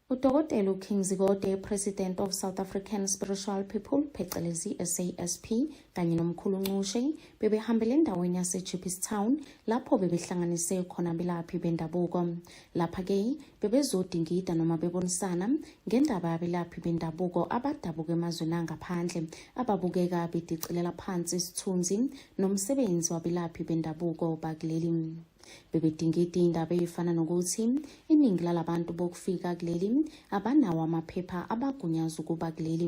Udokotela uKing Zikode, President of South African Spiritual People, phecelezi SASP, kanye nomkhulu Nxushe bebehambele endaweni yaseJupis Town lapho bebehlanganise khona abelaphi bendabuko. Lapha-ke bebezodingida noma bebonisana ngendaba yabelaphi bendabuko abadabuka emazweni angaphandle ababukeka bedicilela phansi isithunzi nomsebenzi wabelaphi bendabuko bakuleli. bebedingida indaba eyifana nokuthi iningi lalabantu bokufika kuleli abanawo amaphepha abagunyaza ukuba kuleli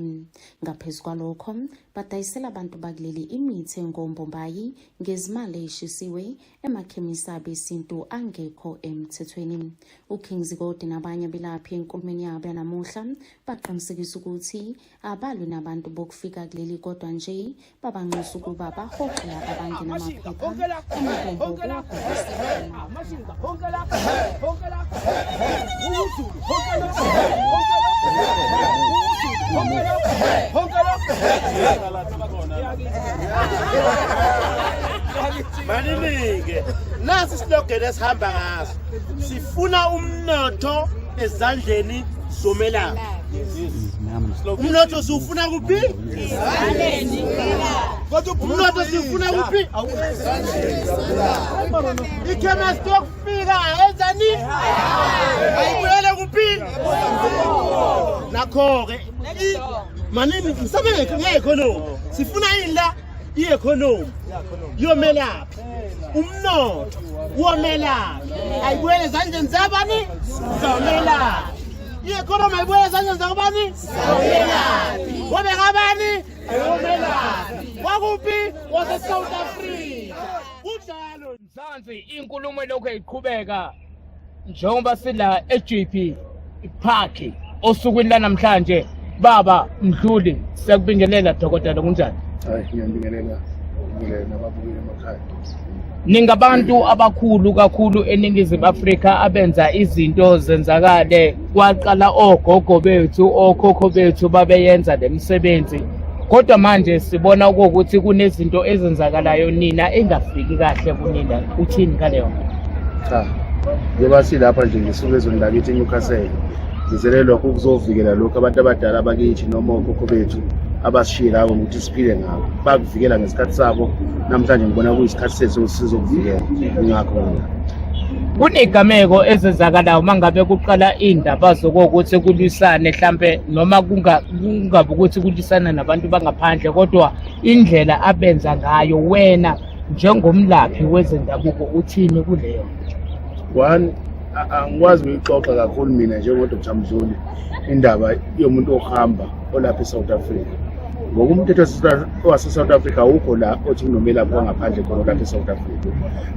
ngaphezu kwalokho badayisela abantu bakuleli imithi engombombayi ngezimali eyishisiwe emakhemisi abesintu angekho emthethweni uking zikode nabanye abelaphi enkulumeni yabo yanamuhla baqinisekisa ukuthi abalwi nabantu bokufika kuleli kodwa nje babanxusa ukuba bahoxe laba abangena amaphepha maninike nasi isilogeni esihamba ngaso sifuna umnotho ezandleni zomelaphi umnotho siwufuna kuphi umnotho siwufuna kuphi ikhemesti yokufika enzani ayibuyele kuphi nakho-ke manini msabe nge-economy sifuna yini la i-economy yomelaphi umnotho womelaphi ayibuyele ezandleni zabani zomelaphi i-economy ayibuyele ezandleni zakubani wabengabani wakuphi wasesouth africa kunjalo mzansi inkulumo elokhu iqhubeka njengoba sila e-gp park osukwini lanamhlanje baba mdluli siyakubingelela dokotela kunjani hayi ngiyambingelela ngibingelela nababukeli emakhaya Ningabantu abakhulu kakhulu eNingizimu Afrika abenza izinto zenzakale. Kwaqala ogogo bethu, okhokho bethu babeyenza le misebenzi. Kodwa manje sibona ukuthi kunezinto ezenzakalayo nina engafiki kahle kunina. Uthini ngaleyo? Cha. Njengoba silapha nje ngisuke ezweni lakithi eNewcastle. Sizele lokho kuzovikela lokhu abantu abadala bakithi noma okhokho bethu abasishiye labo ukuthi siphile ngabo bakuvikela ngesikhathi sabo namhlanje ngibona kuyisikhathi sethu ukuthi sizokuvikela ingakho mina kunegameko ezenzakalayo uma ngabe kuqala iy'ndaba zokokuthi kulwisane hlampe noma kungabi ukuthi kulwisana nabantu bangaphandle kodwa indlela abenza ngayo wena njengomlaphi wezendabuko uthini kuleyo one angikwazi ukuyixoxa kakhulu mina njengodr mzuli indaba yomuntu ohamba olapha e-south africa ngokumthetho wasesouth africa awukho la othi kunomelaphi wangaphandle khona olapha e-south africa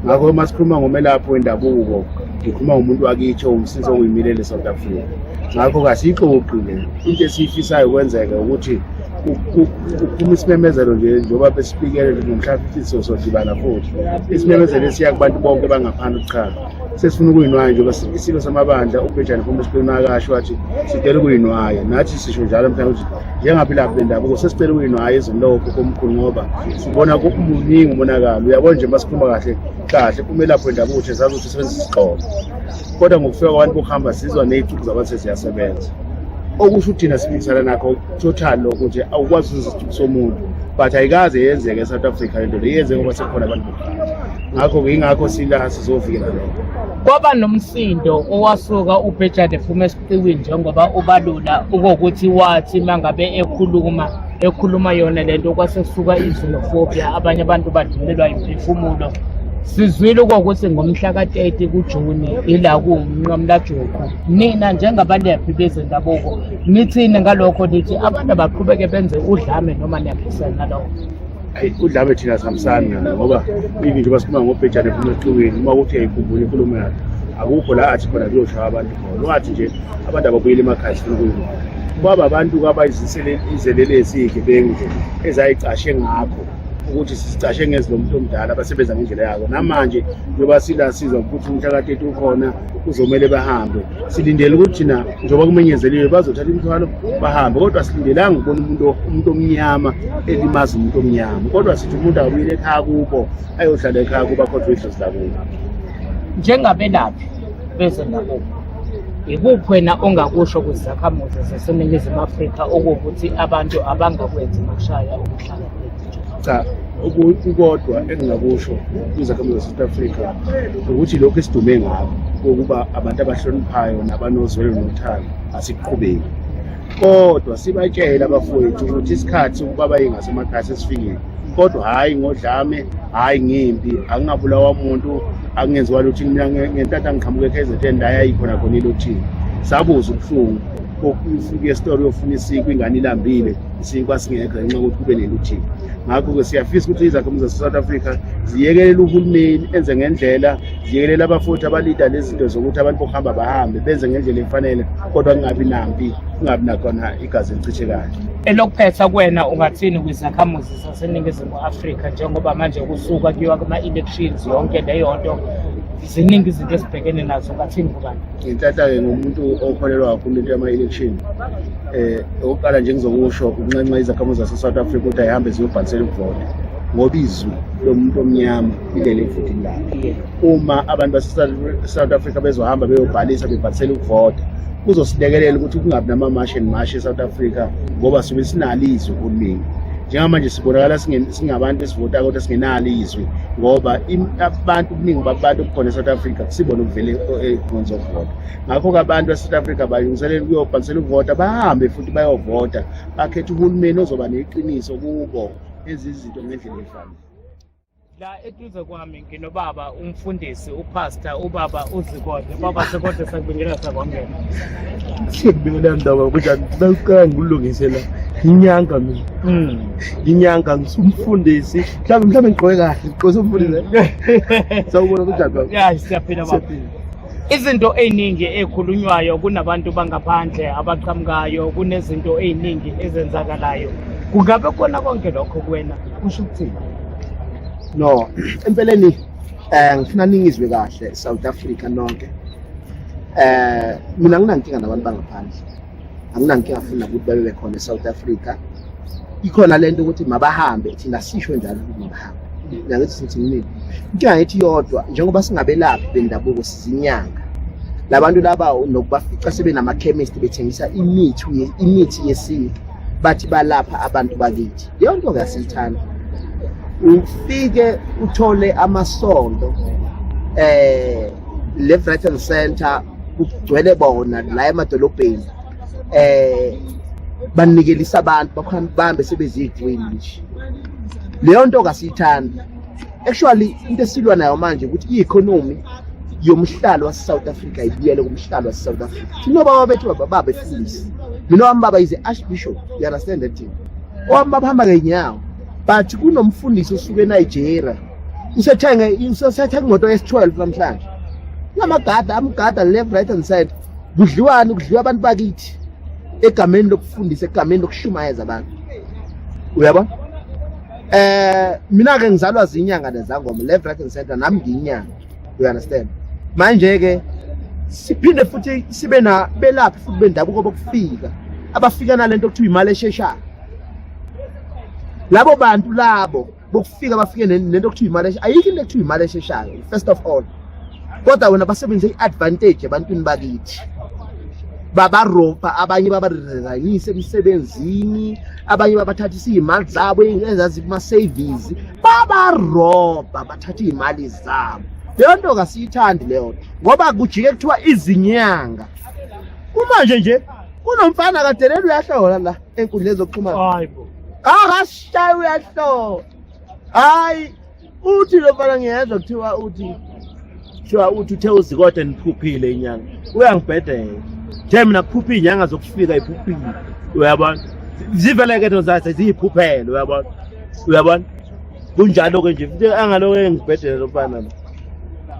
ngakho uma sikhuluma ngomelaphi wendabuko ngikhuluma ngomuntu wakithi owumsisi owuyimilele e-south africa ngakho kasiyixoxi le into esiyifisayo kwenzeke ukuthi kuphuma isimemezelo nje njengoba besifikele ngomhla 15 sozodibana futhi isimemezelo esiya kubantu bonke bangaphandle ukuchama sesifuna ukuyinwaya njengoba isilo samabandla ubhejane phuma esiqeni akasho wathi sicela ukuyinwaya nathi sisho njalo mhlawumbe ukuthi njengaphilaphi bendabuko sesicela ukuyinwaya izinlokho komkhulu ngoba sibona kumuningi umonakalo uyabona nje masikhuluma kahle kahle umelaphi wendabuko uthi zazi ukuthi usebenzisa isixhobo kodwa ngokufika kwabantu bokuhamba sizwa ney'cuku zabantu seziyasebenza okusho uthina siphikisana nakho total lokho nje awukwazi uzicuku somuntu but ayikaze yenzeke e-south africa le nto le yenzeke ngoba sekhona abantu ngakho-ke yingakho sila sizovikela lokho kwaba nomsindo owasuka ubhejade phuma esiqiwini njengoba ubalula ukokuthi wathi uma ngabe ekhuluma ekhuluma yona le nto kwase kusuka izinofobiya abanye abantu badinelwa yimphefumulo sizwile kokuthi ngomhla ka-30 kujuni ila kuwumnqamlajuqu nina njengabalaphi bezendabuko nithini ngalokho nithi abantu abaqhubeke benze udlame noma niyaphisana nalokho Ayi udlame thina sihambisani nalo ngoba even njengoba sikhuluma ngobhejane phuma ehlukeni uma kuthi uyayikhumbula inkulumo yakhe akukho la athi khona kuyoshaya abantu khona ungathi nje abantu ababuyele emakhaya sifuna ukuyibona ubaba abantu kabayizelele esiyigebengu nje ezayicashe ngakho ukuthi sisicashe ngezi lomuntu omdala abasebenza ngendlela yako namanje njengoba sila sizwa ukuthi umhlakateti ukhona kuzomele bahambe silindele ukuthi thina njengoba kumenyezeliwe bazothatha imithwalo bahambe kodwa silindelanga ukubona umuntu umuntu omnyama elimaza umuntu omnyama kodwa sithi umuntu akabuyile ekhaya kubo ayohlala ekhaya kubo akhohlwe idlozi lakubo njengabelaphi bezendabuko yikuphi wena ongakusho kwizakhamuzi zaseningizimu afrika okuwukuthi abantu abangakwenzi mashaya ukuhlala cha ukukodwa engingakusho kwizakhamuzi zase-south africa ukuthi lokhu esidume ngako kokuba abantu abahloniphayo nabanozwelo nothando asiqhubeki kodwa sibatshele abafowethu ukuthi isikhathi sokuba bayingasemakhaya sesifikile kodwa hhayi ngodlame hhayi ngimpi angingabulawa muntu angenziwa luthini mina ngentatha ngiqhamuke ekhezetheni la yayikhona khona ilothini sabuza ubuhlungu kokufika esitolo yofuna isiku ingane ilambile isinkwa singekho ngenxa yokuthi kube neluthiba ngakho-ke siyafisa ukuthi izakhamuzi zase-south africa ziyekelele uhulumeni enze ngendlela ziyekelele abafuthi abalida lezinto zokuthi abantu bokuhamba bahambe benze ngendlela efanele kodwa kungabi nampi kungabi nakhona igazi elichithekayo elokuphetha kwena ungathini kwizakhamuzi zaseningizimu afrika njengoba manje kusuka kuyiwa kuma-elections yonke leyo nto ziningi izinto esibhekene nazo ngathini kubani ngithatha-ke ngomuntu okholelwa kakhulu into yama-election eh okokuqala nje ngizokusho ukunxenxa izakhamuzi zase-south africa ukuthi ayihambe ziyobhalisela ukuvota ngoba izwi lomuntu omnyama ilele evotini lakhe uma abantu base-south africa bezohamba beyobhalisa bebhalisela ukuvota kuzosilekelela ukuthi kungabi namamashi and mashi e-south africa ngoba sibe sinalo izwi kuningi njengamanje sibonakala singabantu esivota kodwa singenalo izwi ngoba abantu kuningi babantu okukhona e-south africa kusibona ukuvele econce eh, okuvota ngakho-ke abantu base-south africa balungiselela ukuyobhalisela ukuvota bahambe futhi bayovota bakhetha uhulumeni ozoba neqiniso kubo ezizinto ngendlela efanele la eduze kwami nginobaba umfundisi upastor ubaba uzikode baba sikode sakubingelela sakwangena sikubingelela ndaba kunjani bekuqala ngikulungise la nginyanga mina hmm. nginyanga ngisumfundisi mhlawumbe mhlawumbe ngigqoke kahle ngigqose umfundisi sawubona kunjani baba ya siyaphila baba izinto eziningi ekhulunywayo kunabantu bangaphandle abaqhamukayo kunezinto eziningi ezenzakalayo kungabe khona konke lokho kuwena kusho ukuthini no empeleni um ngifuna ningizwe kahle south africa nonke um mina nginankinga nabantu bangaphandle anginankinga funa ukuthi babe bekhona esouth africa ikhona le nto ukuthi mabahambe thina sisho njalo ukuthi mabahambe nangithi sithi kunini inkinga yethi yodwa njengoba singabelaphi bendabuko sizinyanga labantu laba nokubafica sebenamakhemist bethengisa imithi imithi yesintu bathi balapha abantu bakithi yonke ngasithanda ufike uthole amasondo eh le Brighton Center kugcwele bona la emadolobheni eh banikelisa abantu bakhona bambe sebezidwini nje leyo nto kasiyithanda actually into esilwa nayo manje ukuthi i-economy yomhlalo wase-south africa ibuyele kumhlalo wase-south africa thina obaba bethu bababa befundisi mina wami baba is archbishop you understand that thing owami baba hamba ngenyawo but kunomfundisi osuke enigeria usethenge usethenga imoto yesi-12 namhlanje kunamagada amgada left right and side kudliwani kudliwa abantu bakithi egameni lokufundisa egameni lokushumayeza abantu uyabona Eh mina ke ngizalwa zinyanga lezangoma left right and center nami ngiyinyanga you understand manje ke siphinde futhi sibe na belaphi futhi bendabuko bokufika abafika nalento kuthiwa imali esheshayo labo bantu labo bokufika bafike nento kuthiwa imali ayikho into ekuthiwa imali esheshayo first of all kodwa wena basebenzise i-advantage ebantwini bakithi babaropa abanye babarezainise emsebenzini abanye babathathisa iy'mali zabo ezazi kuma-savings babaropa bathatha iy'mali zabo leyo nto kasiyithandi leyo nto ngoba kujike kuthiwa izinyanga kumanje nje kunomfana kadelele uyahlola la enkundleni zokuxhumana akashaya uyahlola hayi uthi lo mfana ngiyezwa kuthiwa uthi kuthiwa uthi uthe uzikode niphuphile inyanga uyangibhedela the mina kuphupha iy'nyanga zokufika iphuphile uyabona ziveleke no zathi ziyiphuphele uyabona uyabona kunjalo-ke nje futhi angaloke ngibhedele lo mfana lo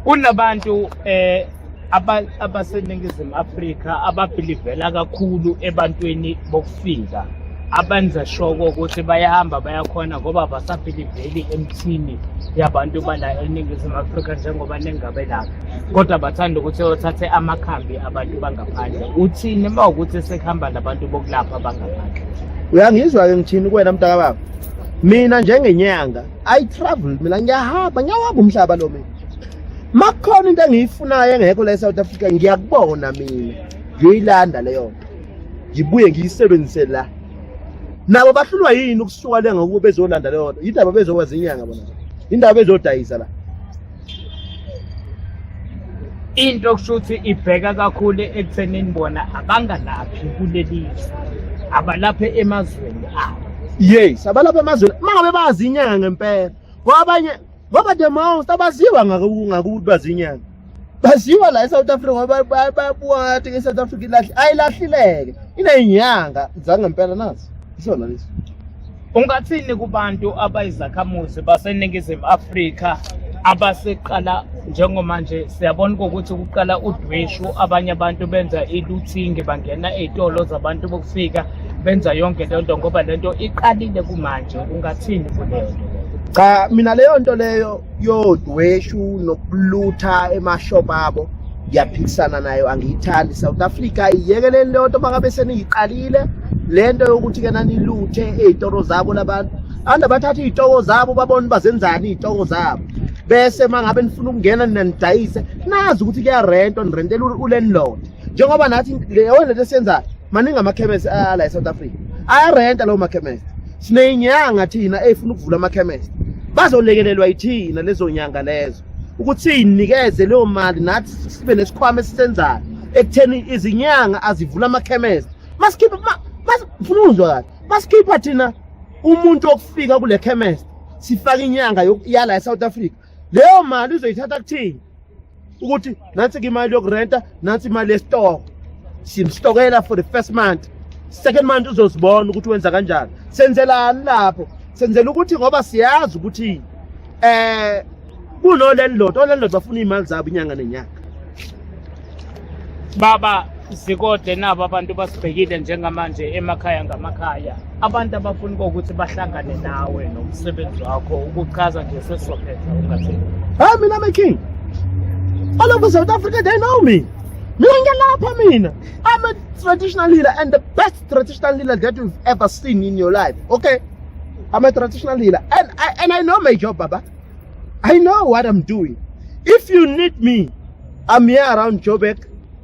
kunabantu um abantu abaseningizimu afrika ababhilivela kakhulu ebantwini bokufika abenza shoko ukuthi bayahamba bayakhona ngoba basabhiliveli emthini yabantu bala eningizimu afrika njengoba nengabe lapha kodwa bathanda ukuthi othathe amakhambi abantu bangaphandle uthini uma ukuthi sekuhamba nabantu bokulapha bangaphandle uyangizwa-ke ngithini kuwena mntakababa mina njengenyanga i travel mina ngiyahamba ngiyawaba umhlaba lo mina makukhona into engiyifunayo engekho la eSouth Africa ngiyakubona mina ngiyoyilanda leyo nto ngibuye ngiyisebenzise la nabo bahlulwa yini ukusuka le ngokuba bezolanda leyo nto yindaba bezokwazi inyanga bona yindaba bezodayisa la into okusho ukuthi ibheka kakhulu ekuthenini bona abangalaphi kuleli abalaphe emazweni abo yes abalapha emazweni uma ngabe bazi inyanga ngempela kwabanye ngoba the most abaziwa ngakuthi bazinyanga baziwa la e-south africa ngoba bayabuka ngathi nge-south africa ilahle ayilahlileke ineyinyanga zangempela nazo isona lesi ungathini kubantu abayizakhamuzi baseningizimu afrika abaseqala njengomanje siyabona ukuthi kuqala udweshu abanye abantu benza iluthingi bangena ey'tolo zabantu bokufika benza yonke le nto ngoba le nto iqalile kumanje ungathini kuleyo nto cha mina leyo nto leyo yodweshu nokulutha emashop abo ngiyaphikisana nayo angiyithandi south africa iyekeleni leyo nto makabe seniyiqalile le nto yokuthi ke naniluthe ey'toro zabo labantu abantu abathatha iy'toko zabo babone bazenzani iy'toko zabo bese uma ngabe nifuna ukungena nina nidayise nazi ukuthi kuyarento nirentela ulandlord njengoba nathi leyo lento esiyenzayo maningi amakhemesi ala e-south africa ayarenta lawo makhemesi sineyinyanga thina eyifuna ukuvula amakhemesi bazolekelelwa yithina lezo nyanga lezo ukuthi siyinikeze leyo mali nathi sibe nesikhwama esisenzayo ekutheni izinyanga azivula amakhemesi masikhiphe ngifuna ukuzwa kahle masikhipha thina umuntu okufika kule khemesi sifake inyanga yala e-south africa leyo mali uzoyithatha kuthini ukuthi nansi ke imali yokurenta nansi imali yesitoko simstokela for the first month second month uzozibona ukuthi wenza kanjani senzelani lapho senzela ukuthi ngoba siyazi ukuthi eh kunolandlord olandlord bafuna imali zabo inyanga nenyanga baba Sikode nabo abantu basibhekile njengamanje emakhaya ngamakhaya. Abantu abafuni ukuthi bahlangane nawe nomsebenzi wakho ukuchaza nje sesizophetha ungathi. Hayi mina my king. All over South Africa they know me. Mina ngiyalapha mina. I'm a traditional leader and the best traditional leader that you've ever seen in your life. Okay? I'm a traditional leader and I and I know my job, Baba. I know what I'm doing. If you need me, I'm here around Joburg.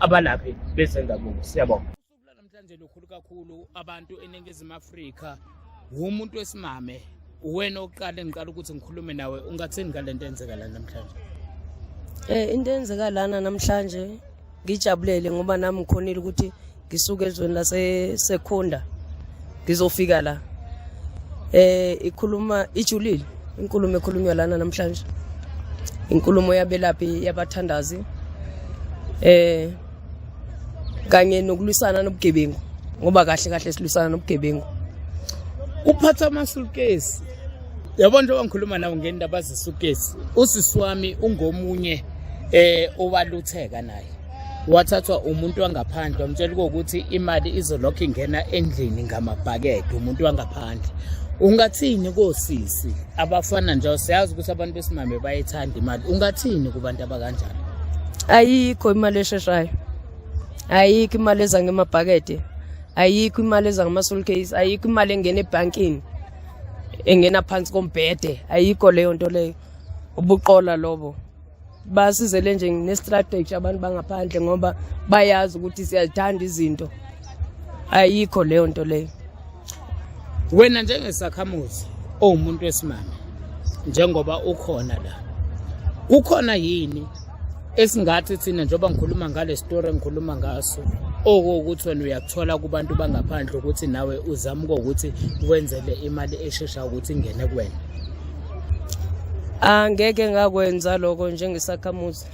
abalaphi bezendabuko siyabonga namhlanje lukhulu kakhulu abantu eningizimu afrika wumuntu wesimame uwena oqala engiqala ukuthi ngikhulume nawe ungathini ngale nto enzeka la namhlanje um into enzeka lana namhlanje ngijabulele ngoba nami ngikhonile ukuthi ngisuke ezweni lasesekhunda ngizofika la eh ikhuluma ijulile inkulumo ekhulunywa lana namhlanje inkulumo yabelaphi yabathandazi eh kanye nokulwisana nobugebengu ngoba kahle kahle silwisana nobugebengu uphatha amasulukesi yabona njengoba ngikhuluma nawo ngendaba zesukesi usisi wami ungomunye eh owalutheka naye wathathwa umuntu wangaphandle wamtshela ukuthi imali izolokhu ingena endlini ngamabhakede umuntu wangaphandle ungathini kosisi abafana nje siyazi ukuthi abantu besimame bayethanda imali ungathini kubantu abakanjani ayikho imali esheshayo ayikho imali eza ngemabhakede ayikho imali eza ngama-soul case ayikho imali engena ebhankini engena phansi kombhede ayikho leyo nto leyo ubuqola lobo basizele nje ngestrategy abantu bangaphandle ngoba bayazi ukuthi siyazithanda izinto ayikho leyo nto leyo wena njengesakhamuzi owumuntu wesimame njengoba ukhona la kukhona yini esingathi thina njengoba ngikhuluma ngale story engikhuluma ngaso okuwukuthi wena uyakuthola kubantu bangaphandle ukuthi nawe uzama ukuthi wenzele imali eshesha ukuthi ingene kuwena angeke ngakwenza lokho njengesakhamuzi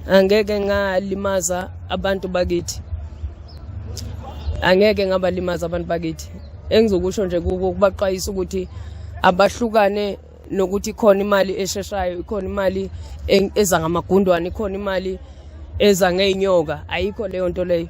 angeke ngalimaza abantu bakithi angeke ngabalimaza abantu bakithi engizokusho nje kuko ukubaxwayisa ukuthi abahlukane nokuthi khona imali esheshayo ikhona imali eza ngamagundwane ikhona imali eza ngeenyoka ayikho leyo nto leyo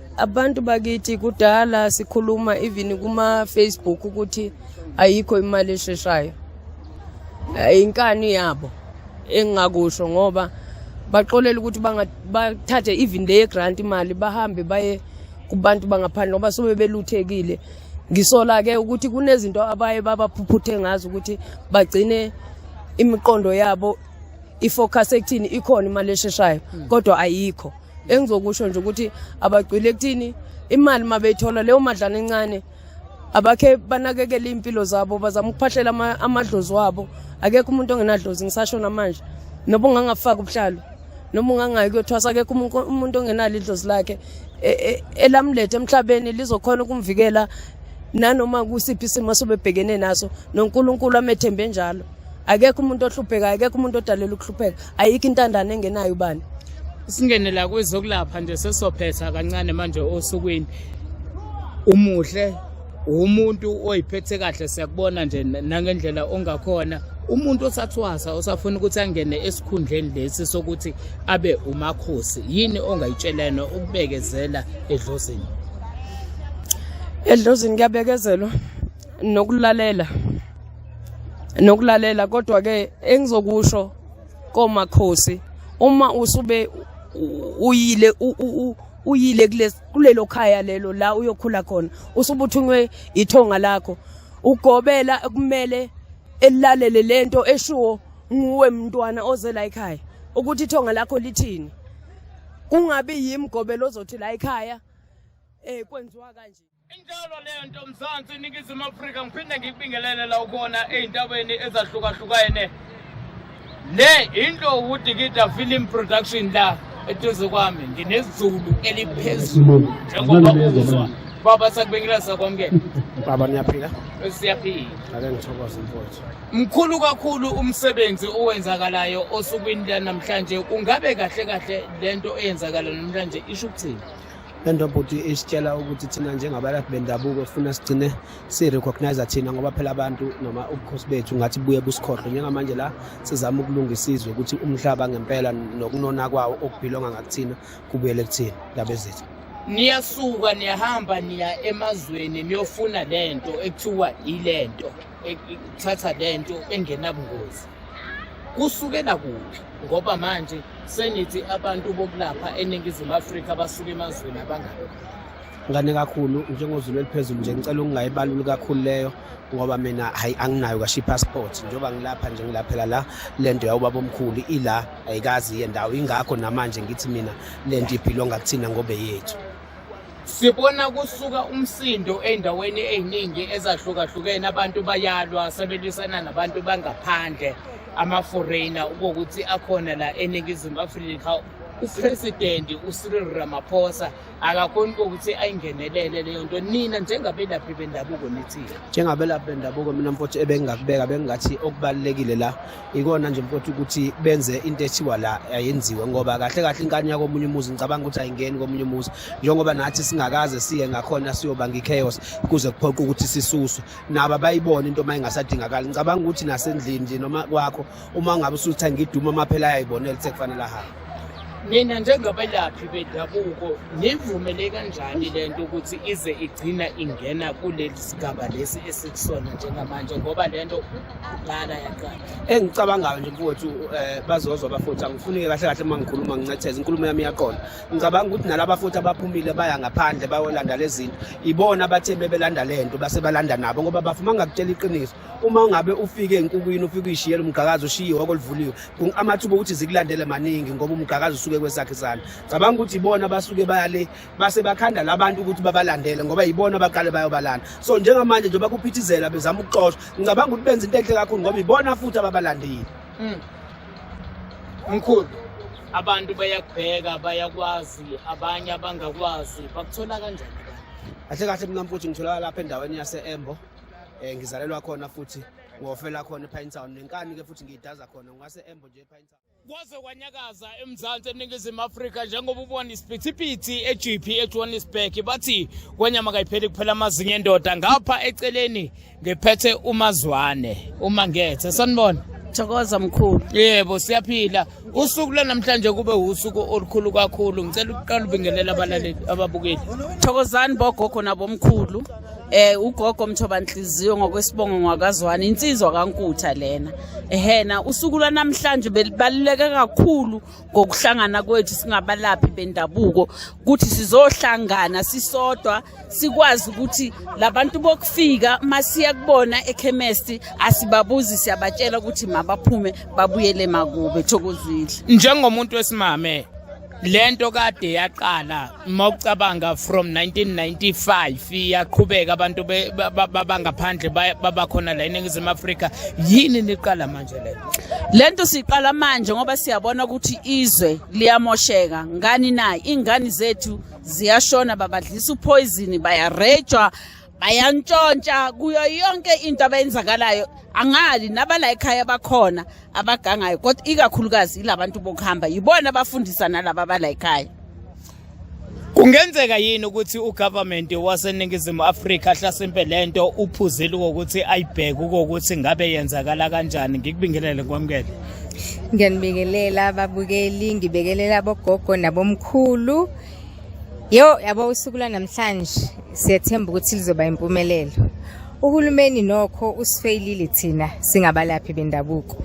Abantu bakithi kudala sikhuluma even kuma Facebook ukuthi ayikho imali esheshayo. Inkani yabo engingakusho ngoba baxolela ukuthi bathathe even le grant imali bahambe baye kubantu bangaphandle ngoba sobe beluthekile ngisola ke ukuthi kunezinto abaye babaphuphuthe ngazo ukuthi bagcine imiqondo yabo ifocus ekuthini ikhona imali esheshayo hmm. kodwa ayikho engizokusho nje ukuthi abagcwile kuthini imali uma beyithola leyo madlana encane abakhe banakekele iy'mpilo zabo bazama ukuphahlela amadlozi wabo akekho umuntu ongenadlozi ngisasho namanje noba ungangafaki ubuhlalo noma ungangayi kuyothwasa akekho umuntu ongenalo idlozi lakhe e, e, elamlethe emhlabeni lizokhona ukumvikela nanoma kusiphi isimo sobebhekene naso nonkulunkulu amethembe njalo akekho umuntu ohlupheka akekho umuntu odalela ukuhlupheka ayikho intandane engenayo ubani singenela kwezokulapha nje sesophetha kancane manje osukwini umuhle umuntu oyiphethe kahle siyakubona nje nangendlela ongakhona umuntu osathwasa osafuna ukuthi angene esikhundleni lesi sokuthi abe umakhosi yini ongayitshelana ukubekezela edlozini edlozini kuyabekezelwa nokulalela nokulalela kodwa ke engizokusho komakhosi uma usube uyile uyile kulelo khaya lelo la uyokhula khona usubuthunywe ithonga lakho ugobela kumele elalele lento eshuwo nguwe mntwana oze la ekhaya ukuthi ithonga lakho lithini kungabi yimgobelo ozothi la ekhaya eh kwenziwa kanje Injalo leyo nto Mzansi iningizimu Afrika ngiphinde ngikubingelele la ukhona ezintabeni ezahlukahlukene. Le into uDikida Film Production la eduze kwami nginezulu eliphezulu njengoba uzwa. Baba sakubingelela sakwamukela. Baba niyaphila? Siyaphila. Ake ngithokoze mfowethu. Mkhulu kakhulu umsebenzi owenzakalayo osukwini lanamhlanje. Kungabe kahle kahle lento eyenzakala namhlanje isho ukuthini? le nto bhuti isitshela ukuthi thina njengabalaphi bendabuko sifuna sigcine si-recognize thina ngoba phela abantu noma ubukhosi bethu ngathi buye busikhohlwe njengamanje la sizama ukulungisa izwe ukuthi umhlaba ngempela nokunona kwawo okubhilonga ngakuthina kubuyele kuthina ndaba ezethu niyasuka niyahamba niya emazweni niyofuna lento ekuthiwa ilento ekuthatha lento engenabungozi kusukela kuphi ngoba manje senithi abantu bokulapha eningizimu afrika basuke emazweni abangako ngane kakhulu njengozulu eliphezulu nje ngicela ukungayibaluli kakhulu leyo ngoba mina hayi anginayo kasho i-passport njengoba ngilapha nje ngilaphela la le nto yawubaba omkhulu ila ayikazi iye ndawo ingakho namanje ngithi mina le nto iphilonga kuthina ngobe yethu Sibona kusuka umsindo endaweni eziningi ezahlukahlukene abantu bayalwa sebelwisana nabantu bangaphandle ama-foreigner ukuthi akhona la eningizimu afrika upresidenti ucyril ramaphosa akakhoni kokuthi ayingenelele leyo nto nina njengabelaphi bendabuko nithini njengabelaphi bendabuko mina mfowethu ebengingakubeka bengingathi okubalulekile la ikona nje mfowethu ukuthi benze into ethiwa la ayenziwe ngoba kahle kahle inkani yakomunye umuzi ngicabanga ukuthi ayingeni komunye umuzi njengoba nathi singakaze siye ngakhona siyobanga ichaos kuze kuphoqa ukuthi sisuswe naba bayibone into uma ingasadingakali ngicabanga ukuthi nasendlini nje noma kwakho uma ngabe usutha ngiduma amaphela ayayibonela ukuthi kufanele ahambe nina njengabelaphi bendabuko nivumele kanjani le nto ukuthi ize igcina ingena kuleli sigaba lesi esikusona njengamanje ngoba le nto lana yaqala engicabangayo nje mfowethu um eh, bazozwa abafuthi angifunike kahle kahle uma ngikhuluma ngincetheza inkulumo yami iyaqona ngicabanga ukuthi nalaba futhi abaphumile baya ngaphandle bayolanda le zinto ibona abathe bebelanda le nto base balanda nabo ngoba bafuma ngakutshela iqiniso uma ungabe ufike enkukwini ufike uyishiyela umgqakazi ushiye ihoko livuliwe amathuba okuthi zikulandele maningi ngoba umgqakazi usuke kwesakhe isandla ngicabanga ukuthi ibona abasuke baya le base bakhanda labantu ukuthi babalandele ngoba yibona abaqale bayobalanda so njengamanje nje bakuphithizela bezama ukuxoshwa ngicabanga ukuthi benza into enhle kakhulu ngoba ibona futhi ababalandile hmm. mkhulu abantu bayakubheka bayakwazi abanye abangakwazi bakuthola kanjani kahle kahle mina mfuthu ngitholakala lapha endaweni yase-embo um ngizalelwa khona futhi ngofela khona epine town nenkani-ke futhi ngiyidaza khona ngase-embo nje epine town kwaze kwanyakaza emzansi eningizimu afrika njengoba ubona isiphithiphithi egp ejohannesburg bathi kwenyama kayipheli kuphela amazinyo endoda ngapha eceleni ngiphethe umazwane uma ngethe sanibona thokoza mkhulu yebo siyaphila usuku lwanamhlanje kube usuku olukhulu kakhulu ngicela ukuqala ubingelela abalaleli ababukeli thokozani bogogo nabomkhulu eh ugogo mthoba nhliziyo ngokwesibongo ngwakazwana insizwa kankutha lena ehena usuku lwanamhlanje belibaluleke kakhulu ngokuhlangana kwethu singabalaphi bendabuko ukuthi sizohlangana sisodwa sikwazi ukuthi labantu bokufika masiya kubona ekhemesti asibabuzi siyabatshela ukuthi mabaphume babuyele makube thokozile njengomuntu wesimame lento kade yaqala mawucabanga from 1995 yaqhubeka abantu bangaphandle babakhona la eningizimu afrika yini niqala manje le le nto siyiqala manje ngoba siyabona ukuthi izwe liyamosheka ngani na iy'ngane zethu ziyashona babadlisa uphoyizini bayarejwa bayantshontsha kuyo yonke into abayenzakalayo angali nabala ekhaya bakhona abagangayo kodwa ikakhulukazi ilabantu bokuhamba yibona abafundisa nalaba abala ekhaya Kungenzeka yini ukuthi ugovernment waseNingizimu Afrika ahlasimpe lento uphuzile ukuthi ayibheke ukuthi ngabe yenzakala kanjani ngikubingelele kwamkele Ngiyanibingelela babukeli ngibekelela bogogo nabomkhulu Yo yabo usuku lwanamhlanje siyethemba ukuthi lizoba impumelelo. Uhulumeni nokho usifeyilile thina singabalaphi bendabuko.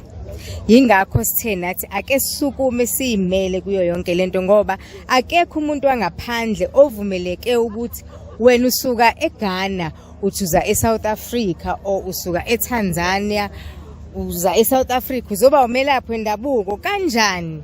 Yingakho sithe nathi ake sisukume siyimele kuyo yonke lento ngoba akekho umuntu wangaphandle ovumeleke ukuthi wena usuka eGhana uthuza eSouth Africa o usuka eTanzania uza eSouth Africa uzoba umelaphi wendabuko kanjani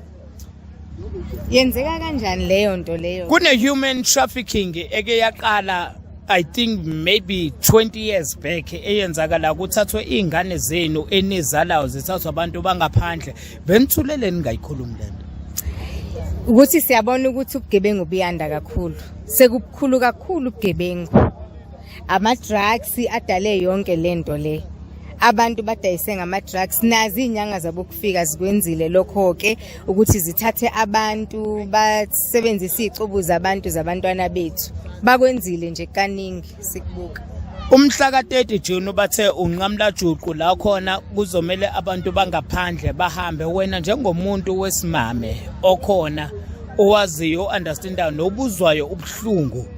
yenzeka kanjani leyo nto leyo kune-human trafficking eke yaqala i think maybe 20 years back eyenzakala kuthathwe iy'ngane zenu enizalayo zithathwa abantu bangaphandle benithulele ningayikhulumi le nto ukuthi siyabona ukuthi ubugebengu buyanda kakhulu sekubukhulu kakhulu ubugebengu ama-drugs adale yonke le nto le abantu badayise ngama-drugs nazi iy'nyanga zabo kufika zikwenzile lokho-ke ukuthi zithathe abantu basebenzise iy'cubu zabantu zabantwana bethu bakwenzile nje kaningi sikubuka Umhla ka-30 June bathe unqamlajuqu la khona kuzomele abantu bangaphandle bahambe wena njengomuntu wesimame okhona owaziyo understandayo nobuzwayo ubuhlungu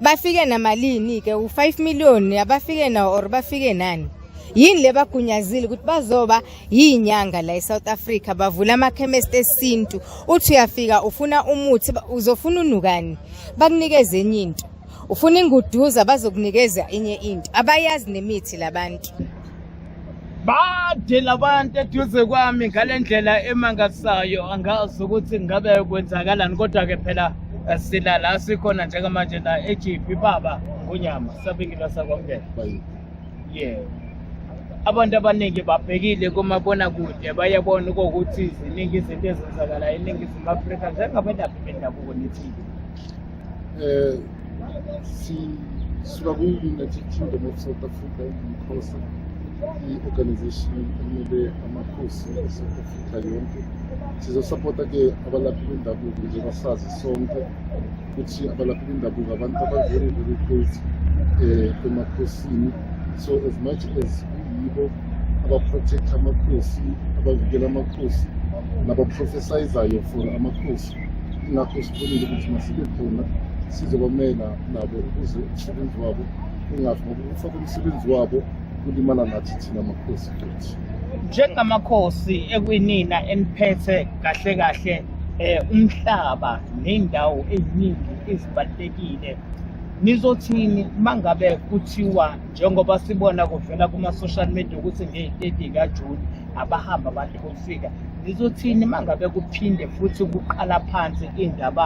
bafike namalini ke u5 million abafike nawo or bafike nani yini le bagunyazile ukuthi bazoba yinyanga la eSouth Africa bavula amakhemesti esintu uthi uyafika ufuna umuthi uzofuna unukani bakunikeze enye into ufuna inguduza bazokunikeza enye into abayazi nemithi labantu bade labantu eduze kwami ngale ndlela emangasayo angazi ukuthi ngabe kwenzakalani kodwa-ke phela eh, sila la sikhona njengamanje la ejiphi baba ngonyama sabingilwa sakwamukela yebo abantu abaningi babhekile kumabonakude bayabona ukuthi ziningi izinto ezenzakalayo eningizimu afrika njengabelaphi bendabuko nethile um eh, sisuka ku-united kingdom of south africa ingumkhosa i-organization emele amakhosi e-south africa yonke sizosapota-ke abalaphi bendabuko njengoba sazi sonke ukuthi abalaphi bendabuko abantu aba-very very close um emakhosini so as much as kuyibo abaprotect amakhosi abavikela amakhosi nabaprofesayizayo for amakhosi nakho sibonile ukuthi masibe khona sizobamela nabo ukuze umsebenzi wabo ungafi ngoba ukufaka umsebenzi wabo kulimala nathi thina makhosi futhi njengamakhosi ekwinina eniphethe kahle kahle eh umhlaba nendawo eziningi ezibalekile nizothini mangabe kuthiwa njengoba sibona kuvela kuma social media ukuthi nge-30 kaJune abahamba abantu bofika Ngizothini mangabe kuphinde futhi kuqala phansi indaba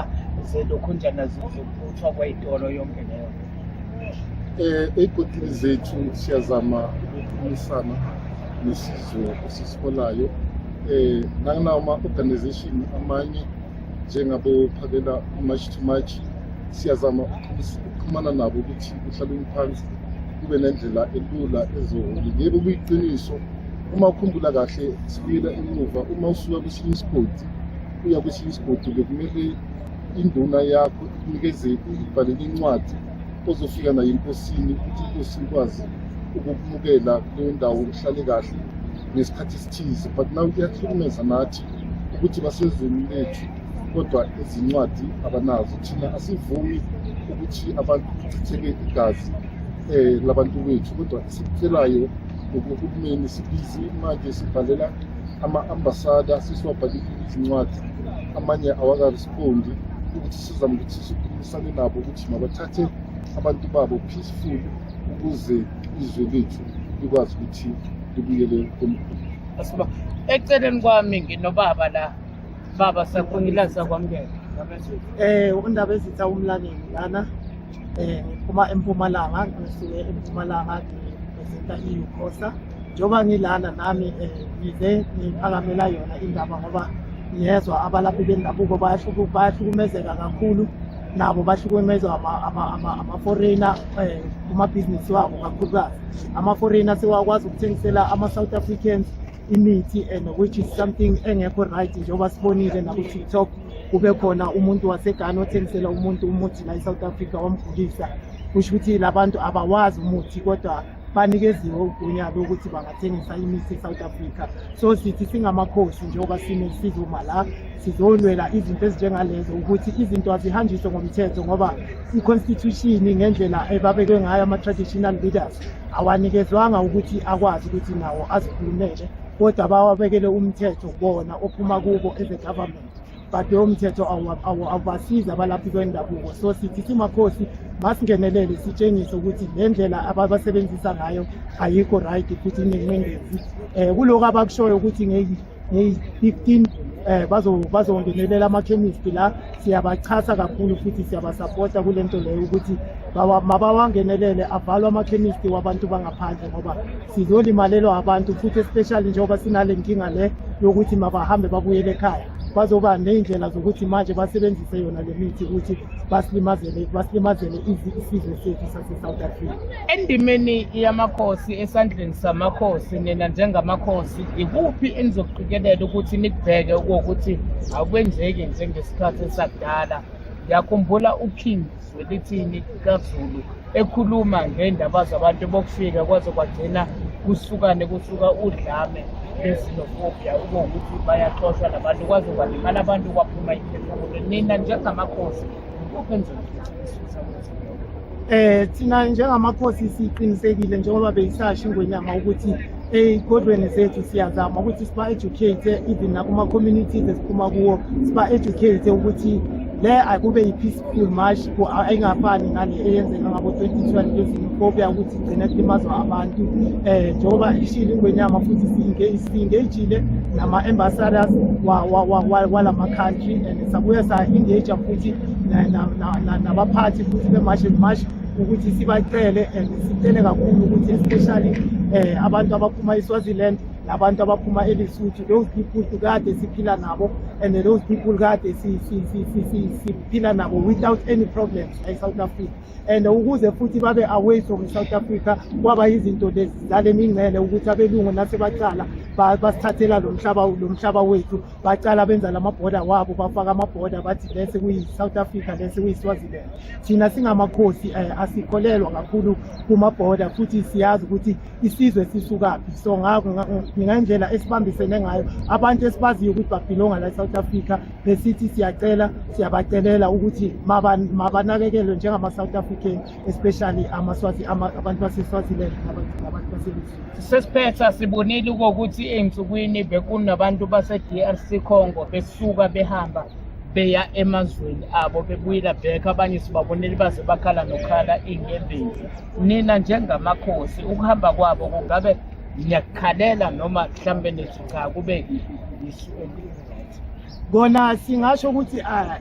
zelokhunjana zokuphuthwa kweyitolo yonke leyo. Eh egodini zethu siyazama ukukhulumisana nesizwe esisiholayo eh nanginama organization amanye njengabo phakela march to march siyazama ukuxhumana nabo ukuthi kuhlalwe phansi kube nendlela elula eziholi yebo kuyiqiniso uma ukhumbula kahle sibuyela emuva uma usuka kwesinye isigodi uya kwesinye isigodi bekumele induna yakho ikunikeze ibhalele incwadi ozofika nayo enkosini ukuthi inkosi ikwazi ukukumukela kuleyo ndawo uhlale kahle ngesikhathi esithize but now kuyahlukumeza nathi ukuthi basezweni lethu kodwa izincwadi abanazo thina asivumi ukuthi abantu kuchitheke igazi um labantu bethu kodwa esikucelayo ngokuhulumeni sibizi manje sibhalela ama-ambasada sesiwabhalile izincwadi amanye awakarespondi ukuthi sizama ukuthi sikhulumisane nabo ukuthi mabathathe abantu babo peaceful ukuze izwe lethu likwazi ukuthi libuyele komkhulu Asiba eceleni kwami nginobaba la. Baba sakhulila sakwamukela. Eh undaba ezitha umlaleli lana eh uma empumalanga ngisuke empumalanga ngizinta iUkosa njengoba ngilana nami eh, ngize ngiphakamela yona indaba ngoba ngiyezwa abalaphi bendabuko bayahlukumezeka kakhulu nabo bahlukumezwa ama-foreigner um eh, kumabhizinisi wabo kakhulukazi ama-foreigner sewakwazi ukuthengisela ama-south africans imithi and which is something engekho right njengoba sibonile naku-tiktok kube khona umuntu wasegane othengisela umuntu umuthi la e-south africa wamgulisa kusho ukuthi la bantu abawazi umuthi kodwa banikeziwe ugunya lokuthi bangathengisa imithi e-south africa so sithi singamakhosi njengoba sinesizuma la sizolwela izinto ezinjengalezo ukuthi izinto azihanjiswe ngomthetho ngoba i-constitution ngendlela ebabekwe ngayo ama-traditional leaders awanikezwanga ukuthi akwazi ukuthi nawo azikhulumele kodwa bawabekele umthetho bona ophuma kubo as a government but lowo mthetho awubasizi abalaphi kwendabuko so sithi simakhosi masingenelele sitshengise ukuthi le ndlela ababasebenzisa ngayo ayikho right futhi inenqindezi um eh, kulokhu abakushoyo ukuthi May 15 eh bazo bazongenelela amakhemisi la siyabachasa kakhulu futhi siyabasapota kule nto leyo ukuthi mabawangenelele avalwe amakhemisti wabantu bangaphandle ngoba sizolimalelwa abantu futhi especially njengoba sinale nkinga le yokuthi mabahambe babuyele ekhaya bazoba ney'ndlela zokuthi manje basebenzise yona le mithi ukuthi basilimazele basilimazele isizwe sethu sase-south africa Endimeni yamakhosi esandleni samakhosi nina njengamakhosi ikuphi enizoqikelela ukuthi nikubheke ukuthi akwenzeki njengesikhathi sakudala ngiyakhumbula uking zwelithini kazulu ekhuluma ngendaba zabantu bokufika kwaze kwagcina kusukane kusuka udlame bezinofobia ukuwukuthi bayaxoshwa nabantu kwaze kwalimala abantu kwaphuma iphefumulo nina njengamakhosi Eh thina njengamakhosi siqinisekile njengoba beyisasha ingwenyama ukuthi ey'kolweni zethu siyazama ukuthi siba-educate even nakuma-communities esiphuma kuwo siba-educate ukuthi le akube yi-peaceful march ayingafani nale eyenzeka ngabo-twenty twelve ezimfobia ukuthi gcina kulimazwa abantu um njengoba ishile ingwenyama futhi si-engagile nama-ambassadors wala ma-country and sabuye sa-engage futhi nabaphathi futhi be-march and march ukuthi sibacele and sicele kakhulu ukuthi especially um abantu abaphuma iswaziland nabantu abaphuma elisuthu those people kade siphila nabo and those people kade siphila nabo without any problems like south africa and ukuze futhi babe away from South Africa kwaba yizinto lezi zale mingcele ukuthi abelungu nasebacala basithathela lo mhlaba lo mhlaba wethu bacala benza lama border wabo bafaka ama border bathi lesi kuyi South Africa lesi kuyi Swaziland thina singamakhosi eh, asikholelwa kakhulu kuma border futhi siyazi ukuthi isizwe sisukaphi so ngakho ngingendlela esibambisene ngayo abantu esibaziyo ukuthi babhilonga la e-south africa besithi siyacela siyabacelela ukuthi mabanakekelwe njengama-south african especially amaswazi abantu baseswaziland nabantu baselizwe sesiphetha sibonile kokuthi ey'nsukwini bekunabantu base-d r c congo besuka behamba beya emazweni abo bebuyela back abanye sibabonele baze bakhala nokhala iy'nyembezi nina njengamakhosi ukuhamba kwabo kungabe niyakukhalela noma mhlambe nithi cha kube isu eli-right kona singasho ukuthi ah,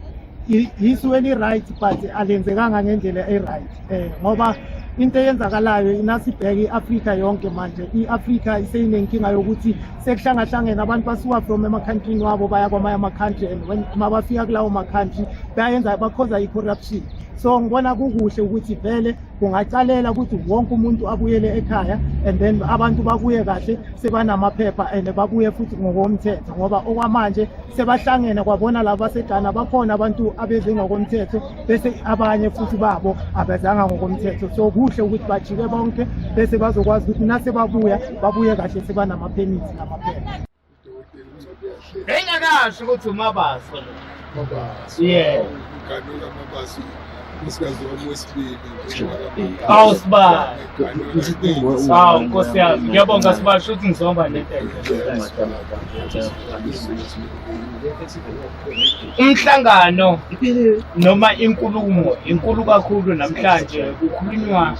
i- isu eli-right but alenzekanga ngendlela e-right um ngoba into eyenzakalayo inasibheke i-afrika yonke manje i-afrika iseyinenkinga yokuthi sekuhlangahlangene abantu basuka from emakhantrini wabo baya kwamanye amakhantri and when mabafika kulawo makhantri bayenza bakhoza i-corruption so ngibona kukuhle ukuthi vele kungaqalela ukuthi wonke umuntu abuyele ekhaya and then abantu babuye kahle sebanamaphepha and babuye futhi ngokomthetho ngoba okwamanje sebahlangene kwabona laba baseGhana bakhona abantu abeze ngokomthetho bese abanye futhi babo abezanga ngokomthetho so kuhle ukuthi bajike bonke bese bazokwazi ukuthi nasebabuya babuye kahle sebanamaphemithi namaphepha Bengakazi ukuthi uMabaso lo. Mabaso. Yeah. Uganula Mabaso. Usigazi wami wesibili. Awu sibali. Awu nkosi yami. Ngiyabonga sibali shuthi ngizomba netende. Umhlangano noma inkulumo inkulu kakhulu namhlanje kukhulunywa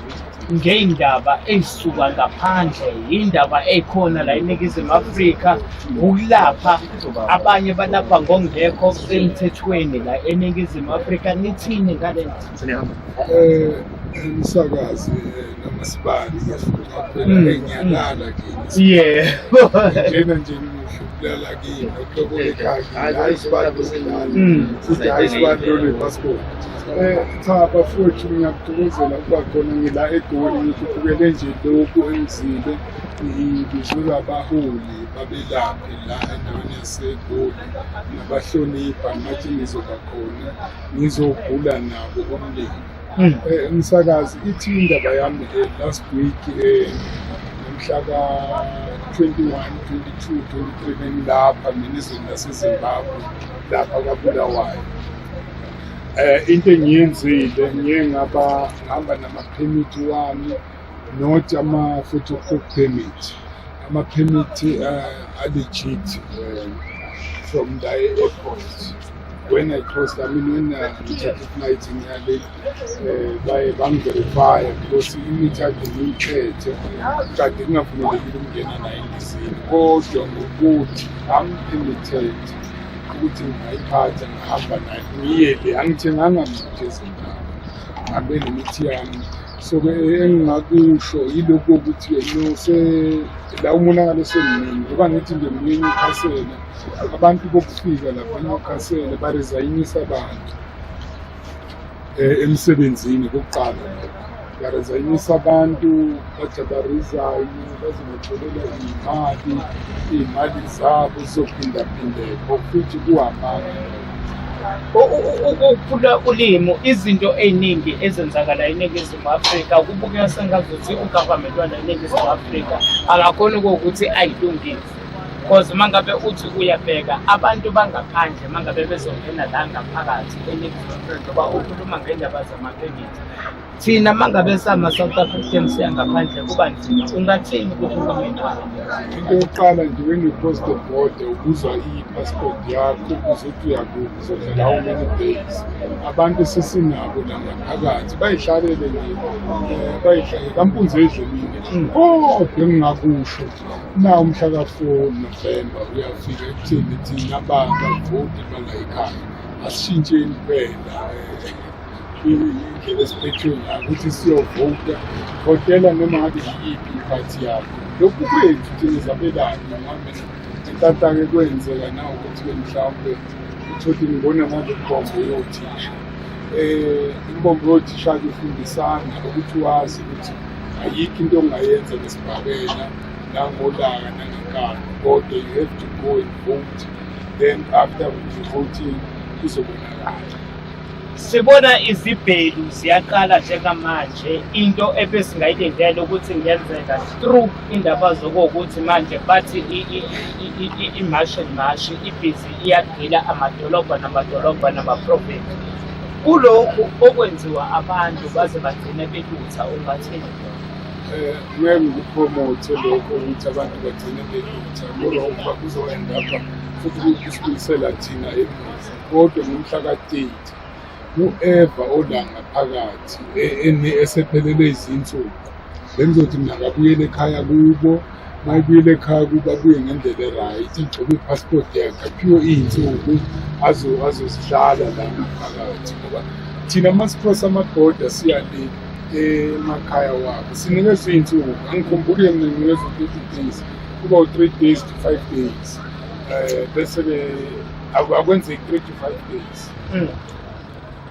ngey'ndaba ey'suka ngaphandle yindaba ey'khona la eningizimu afrika ukulapha abanye balapha ngokungekho emthethweni la eningizimu afrika nithini ngale um umsakazi noma sibani yafuna phela enyakala kini yebo njena nje ngihlukela kini okuhlokole kaki hayi sibani kusilana futhi hayi sibani lolu passport Eh, cha bafowethu ngiyakuthokozela ukuba khona ngila egoli ngikhuphukele nje lokhu engizile ngizula abaholi babelaphe la endaweni yasegoli nabahlonipha ngathi ngizoba khona ngizogula nabo umndeni hmm. eh, umsakazi ithi indaba yami eh, last week mhla ka-21 22 23 bengilapha ngenizweni lasezimbabwe lapha kabulawayo Eh, into engiyenzile ngiye ngabahamba namaphemithi wami not ama-photocop permit amaphemithi uh, eh, alegit uh, eh, from the airport when I crossed, I mean, when uh, we took the flight in Yale, uh, by Bank Verify, because imithi yakhe ngiyiphethe kade kungavumelekile ukungena naye endizini kodwa ngokuthi amphimithethi ukuthi ngingayiphatha ngahamba naye ngiyele angithenganga mntu ezindaba ngabe nemithi yami so ke engingakusho yilokhu ukuthi la umonakalo semningi ngoba ngithi nje mningi ukhasele abantu bokufika lapha nokhasele barezayinisa abantu um emsebenzini kokuqala lokho Barazanyisa abantu bajabarizayo bazimacelela iy'mali iy'mali zabo zizophindaphindeka futhi kuhamanga ukuphula ulimu izinto ey'ningi ezenzakala eningizimu afrika kubukeka sengazuthi ugovernment wala eningizimu afrika akakhoni kokuthi ayilungile because uma ngabe uthi uyabheka abantu bangaphandle uma ngabe bezongena la ngaphakathi eningizimu afrika uba ukhuluma ngendaba zamaphekithi thina mangabe sama South African siya ngaphandle kuba nzima ungathini kuhulumeni into yokuqala nje when you cross the border ubuza i-passport yakho ukuze uthi uyakuphi uzodlala how many days abantu esesinabo la ngaphakathi bayihlalele nje eh, bayihlalele kampunzi edlelile hmm. kodwa engingakusho na umhla ka-four november uyafika ekuthini thina abantu avoti balayikhaya asishintsheni phela eh, indlela esiphethe ngayo ukuthi siyovota votela noma ngabe yiyiphi iphathi yakho lokhu kwethu thina zabelani ngambe intatake kwenzeka na ukuthi ke mhlawumbe uthole ngibona manje imbombo yothisha um imbombo yothisha-ke ufundisana ukuthi wazi ukuthi ayikho into ongayenza ngesibhakela nangolaka nangenkani kodwa you have to go and vote then after ukuthi voting kuzobonakala Sibona izibhelu ziyaqala njengamanje into ebesingayilindele ukuthi ngenzeka through indaba zokuwukuthi manje bathi imashi and mashi ibhizi iyagila amadolobha namadolobha namaprofethi kulokhu okwenziwa abantu baze bagcine belutha ungathini eh, ngeke ngikupromothe lokho ukuthi abantu bagcine belutha ngoba kuzoendapha futhi kusibulisela thina emuva Kodwa ngomhla ka-30 u-Eva olanga phakathi e-, e-, esephelele izinsuku bengizothi mina akabuyele ekhaya kubo mayibuyele ekhaya kuba kuye ngendlela e-right igcobe i-passport yakhe aphiwe iy'nsuku azozihlala la ngaphakathi ngoba thina uma sikhosa amaboda siyale emakhaya wabo sinikezwe iy'nsuku angikhumbuli mina nginikezwe u-thirty days kuba u-three days to five days um bese-ke Aku- akwenzeki 3 to 5 days Mm.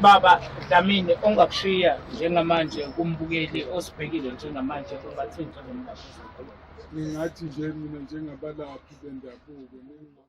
Baba Dlamini ongakushiya njengamanje kumbukeli osibhekile njengamanje kubathinta nomlaphi wezempilo. ngingathi nje mina njengabalaphi bendabuko ninga-